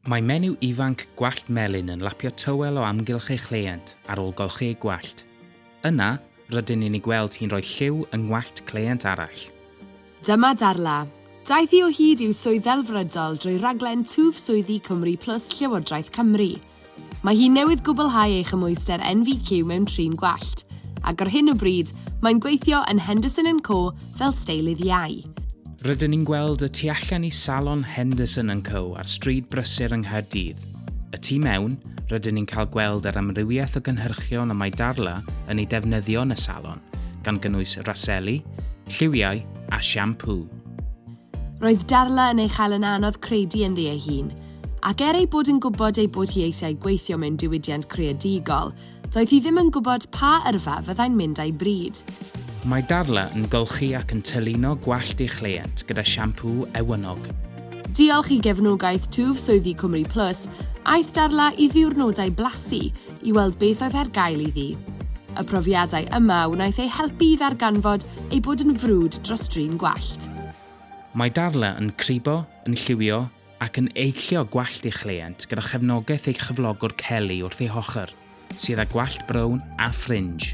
Mae menyw ifanc gwallt melyn yn lapio tywel o amgylch ei chleient ar ôl golchi ei gwallt. Yna, rydyn ni'n ei gweld hi'n rhoi lliw yng ngwallt cleient arall. Dyma Darla. Daeth hi o hyd i'w swydd ddelfrydol drwy raglen Twf Swyddi Cymru Plus Llywodraeth Cymru. Mae hi newydd gwblhau ei chymhwyster NVQ mewn trin gwallt, ac ar hyn o bryd, mae'n gweithio yn Henderson and Co fel steilydd iau. Rydyn ni'n gweld y tu allan i Salon Henderson and Co ar Stryd Brysur yng Nghaerdydd. Y tu mewn, rydyn ni'n cael gweld yr amrywiaeth o gynhyrchion y mae Darla yn ei defnyddio yn y salon, gan gynnwys raseli, lliwiau a siampŵ. Roedd Darla yn ei chael yn anodd credu ynddi ei hun, ac er ei bod yn gwybod ei bod hi eisiau gweithio mewn diwydiant creadigol, Doedd hi ddim yn gwybod pa yrfa fyddai'n mynd â'i bryd. Mae Darla yn golchi ac yn tylino gwallt ei chleient gyda siampŵ ewynnog. Diolch i gefnogaeth twf swyddi Cwmri Plus, aeth Darla i ddiwrnodau blasu i weld beth oedd ar gael iddi. Y profiadau yma wnaeth ei helpu i ddarganfod ei bod yn frwd dros drin gwallt. Mae Darla yn cribo, yn lliwio, ac yn eillio gwallt ei chleient gyda chefnogaeth ei chyflogwr Kelly wrth ei hochr, sydd â gwallt brown a ffrinj.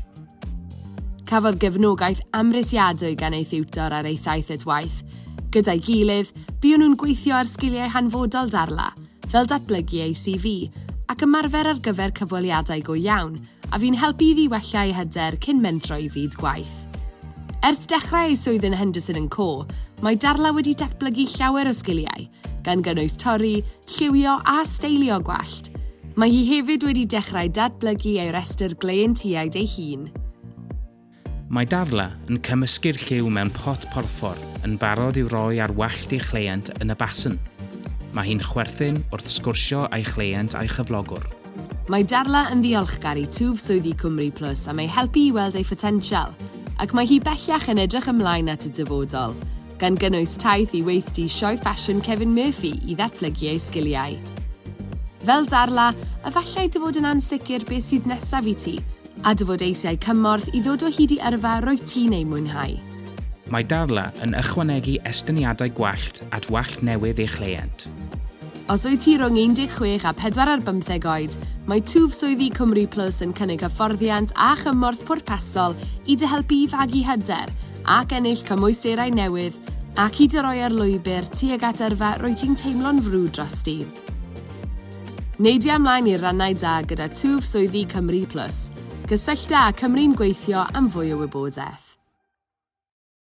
Cafodd gefnogaeth amhrisiadwy gan ei thiwtor ar ei thaith at waith. Gyda'i gilydd, buon nhw'n gweithio ar sgiliau hanfodol Darla, fel datblygu ei CV ac ymarfer ar gyfer cyfweliadau go iawn, a fu'n helpu iddi wella ei hyder cyn mentro i fyd gwaith. Ers dechrau ei swydd yn Henderson and Co, mae Darla wedi datblygu llawer o sgiliau, gan gynnwys torri, lliwio a steilio gwallt. Mae hi hefyd wedi dechrau datblygu ei restr gleientiaid ei hun. Mae Darla yn cymysgu'r lliw mewn pot porffor yn barod i'w roi ar wallt ei chleient yn y basen. Mae hi'n chwerthin wrth sgwrsio â'i chleient a'i chyflogwr. Mae Darla yn ddiolchgar i Twf Swyddi Cwmri Plus am ei helpu i weld ei photensial, ac mae hi bellach yn edrych ymlaen at y dyfodol, gan gynnwys taith i weithdy sioe ffasiwn Kevin Murphy i ddatblygu ei sgiliau. Fel Darla, efallai dy fod yn ansicr beth sydd nesaf i ti, A dy fod eisiau cymorth i ddod o hyd i yrfa rwyt ti'n ei mwynhau. Mae Darla yn ychwanegu estyniadau gwallt at wallt newydd ei chleient. Os wyt ti rhwng 16 a 45 oed, mae twf swyddi Cymru Plus yn cynnig hyfforddiant a chymorth pwrpasol i dy helpu i fagu hyder ac ennill cymwysterau newydd ac i dy roi ar lwybr tuag at yrfa rwyt ti'n teimlo'n frwd drosti. Neidia ymlaen i'r rannau da gyda twf swyddi Cymru Plus. Cysyllta â Cymru'n Gweithio am fwy o wybodaeth.